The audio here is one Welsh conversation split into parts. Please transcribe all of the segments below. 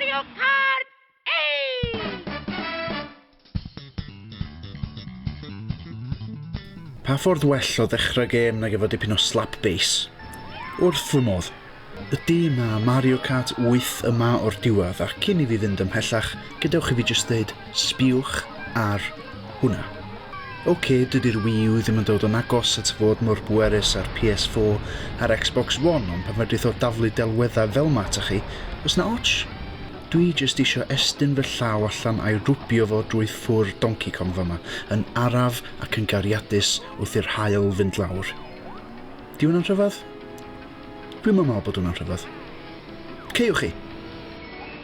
Mario Kart 8! Pa ffordd well o ddechrau gêm nag efo dipyn o slap bass? Wrth fy modd! Ydy, mae Mario Kart 8 yma o'r diwedd, a cyn i fi fynd ymhellach, gadewch i fi jyst ddeud, Sbiwch ar hwnna. Ok, dydi'r Wii U ddim yn dod yn agos at fod mor bwerus â'r PS4 a'r Xbox One ond pan fedrith o daflu delweddau fel 'ma ata chi, oes 'na ots? Dwi jyst isio estyn fy llaw allan a'i rwbio fo drwy ffwr Donkey Kong fama yn araf ac yn gariadus wrth i'r haul fynd lawr. Di hwnna'n rhyfedd? Dwi'm yn meddwl bod hwnna'n rhyfedd. Ceiwch chi!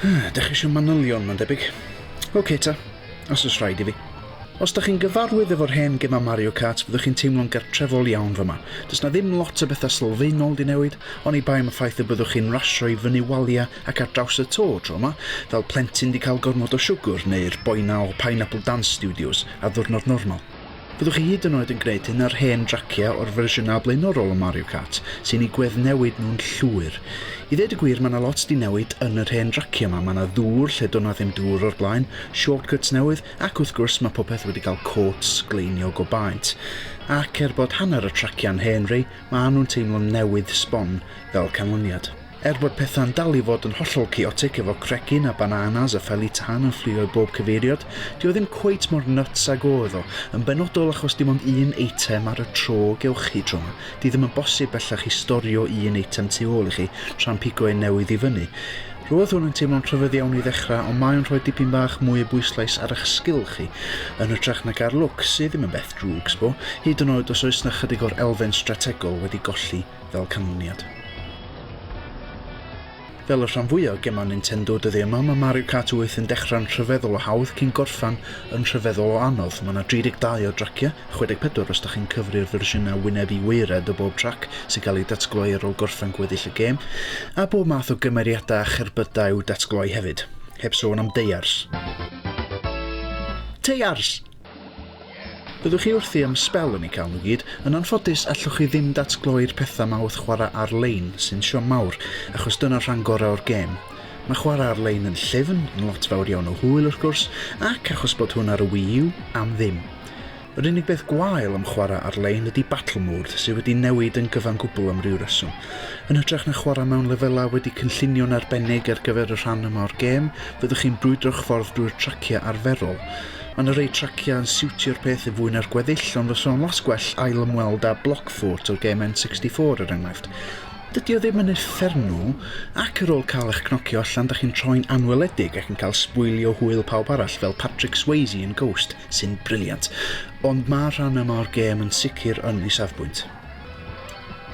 Dych chi eisiau manylion, mae'n debyg. OK ta, os oes rhaid i fi. Os dych chi'n gyfarwydd efo'r hen gemau Mario Kart, fyddwch chi'n teimlo'n gartrefol iawn fyma. Does na ddim lot o bethau sylfaenol di newid, ond i bai am y ffaith y byddwch chi'n rasio i fyny walia ac ar draws y to tro yma, fel plentyn di cael gormod o siwgwr, neu'r boi na o Pineapple Dance Studios ar ddwrnod normal. Byddwch chi hyd yn oed yn gwneud un o'r hen draciau o'r fersiynau blaenorol o Mario Kart, sy'n eu gweddnewid nhw'n llwyr. I ddeud y gwir, mae 'na lot 'di newid yn yr hen draciau 'ma, mae 'na ddŵr lle do' 'na ddim dŵr o'r blaen, shortcuts newydd, ac wrth gwrs mae popeth wedi cael côt sgleiniog o baent. Ac er bod hanner y traciau'n hen ry, maen nhw'n teimlo'n newydd sbon fel canlyniad. Er bod pethau'n dal i fod yn hollol chaotic efo cregyn a bananas a feli tân yn fflio i bob cyfeiriad, 'di o ddim cweit mor nyts ag oedd o, yn benodol achos dim ond un eitem ar y tro gewch chi tro 'ma, 'di ddim yn bosib bellach i storio un eitem tu ôl i chi tra'n pigo un newydd i fyny. Roedd hwn yn teimlo'n rhyfedd iawn i ddechrau ond mae o'n rhoi dipyn bach mwy o bwyslais ar eich sgil chi, yn hytrach nag ar lwc, sydd ddim yn beth drwg, sbo, hyd yn oed os oes 'na chydig o'r elfen strategol wedi golli. fel canlyniad. Fel y rhan fwya o gemau Nintendo, dydi y mam ym Mario Kart 8 yn dechrau'n rhyfeddol o hawdd cyn gorffan yn rhyfeddol o anodd. Mae 'na 32 o draciau, 64 os 'da chi'n cyfri'r fersiynau wyneb i waered o bob trac sy'n cael eu datgloi ar ôl gorffen gweddill y gêm, a bob math o gymeriadau a cherbydau i'w datgloi hefyd. Heb sôn am deiars. Teiars! Byddwch chi wrthi am sbel yn ei cael nhw gyd, yn anffodus allwch chi ddim datgloi'r pethau 'ma wrth chwarae ar-lein, sy'n siom mawr, achos dyna'r rhan gorau o'r gêm. Mae chwarae ar-lein yn llyfn, yn lot fawr iawn o hwyl wrth gwrs, ac, achos bod hwn ar y Wii U, am ddim. Yr unig beth gwael am chwarae ar-lein ydi Battle Mode, sydd wedi newid yn gyfan gwbl am ryw reswm. Yn hytrach na chwarae mewn lefelau wedi cynllunio'n arbennig ar gyfer y rhan yma o'r gêm, fyddwch chi'n brwydro'ch ffordd drwy'r traciau arferol, Mae 'na rei traciau yn siwtio'r peth yn fwy na'r gweddill, ond fysa fo'n las gwell ail ymweld â Blockfort o gêm N64 er enghraifft. Dydy o ddim yn uffernw, ac ar ôl cael eich cnocio allan dach chi'n troi'n anweledig ac yn cael sbwylio hwyl pawb arall fel Patrick Swayze yn Ghost, sy'n briliant. Ond mae'r rhan yma o'r gêm yn sicr yn ei safbwynt.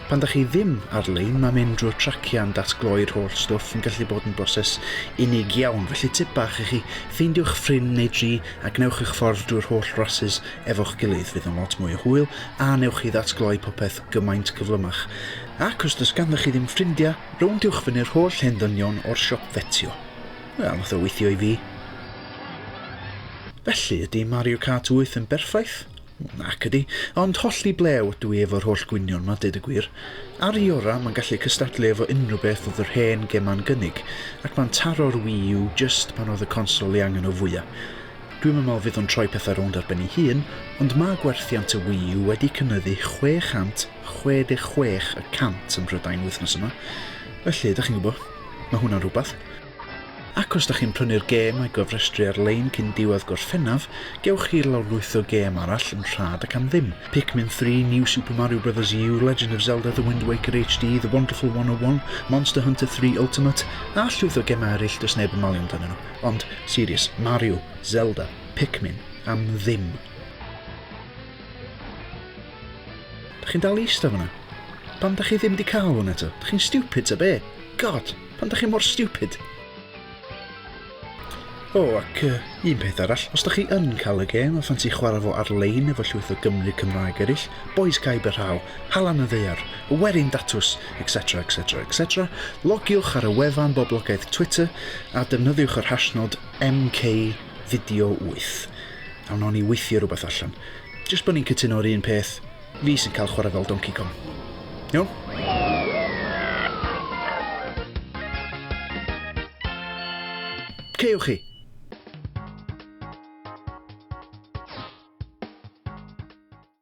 Pan dach chi ddim ar-lein, mae mynd drwy'r traciau yn datgloi'r holl stwff yn gallu bod yn broses unig iawn, felly tip bach i chi, ffeindiwch ffrind neu dri a gwnewch eich ffordd drwy'r holl rasys efo'ch gilydd, fydd o'n lot mwy o hwyl a newch chi ddatgloi popeth gymaint cyflymach. Ac os does ganddoch chi ddim ffrindiau, rowndiwch fyny'r holl hen ddynion o'r siop fetio. Wel, nath o weithio i fi. Felly, ydy Mario Kart 8 yn berffaith? Nac ydy, ond hollti blew ydw i efo'r holl gwynion 'ma, deud y gwir. Ar i ora, mae'n gallu cystadlu efo unrhyw beth oedd yr hen gema'n gynnig, ac mae'n taro'r Wii U jyst pan oedd y consol ei angen o fwya. Dwi'm yn me'wl fydd o'n troi pethau rownd ar ben ei hun, ond ma' gwerthiant y Wii U wedi cynyddu 666 y cant ym Mhrydain wythnos yma, felly, 'dach chi'n gwbo, ma' hwnna'n rwbath. Ac os da chi'n prynu'r gêm a'i gofrestru ar-lein cyn diwedd Gorffennaf, gewch chi lawrlwytho gêm arall yn rhad ac am ddim, Pikmin Three, New Super Mario Brothers U, Legend of Zelda, The Wind Waker HD, The Wonderful 101, Monster Hunter Three Ultimate, a llwyth o gemau eraill does neb yn malio amdanyn nhw. Ond, serious, Mario, Zelda, Pikmin, am ddim. Da chi'n dal i ista fan'na? Pam da chi ddim di cael hwn eto? Da chi'n stupid ta be? God! Pam da chi mor stupid? O, oh, ac uh, un peth arall, os da chi yn cael y gêm a ffansi chwarae fo ar-lein efo llwyth o Gymru Cymraeg eraill, boys caib y rhaw, halan y ddeiar, y werin datws, etc, etc, etc, logiwch ar y wefan boblogaeth Twitter a defnyddiwch yr hashnod MKVideo8. A wnawn ni weithio rhywbeth allan. Jyst bod ni'n cytuno'r un peth, Fi sy'n cael chwarae fel Donkey Kong. Iawn? Ceiwch chi!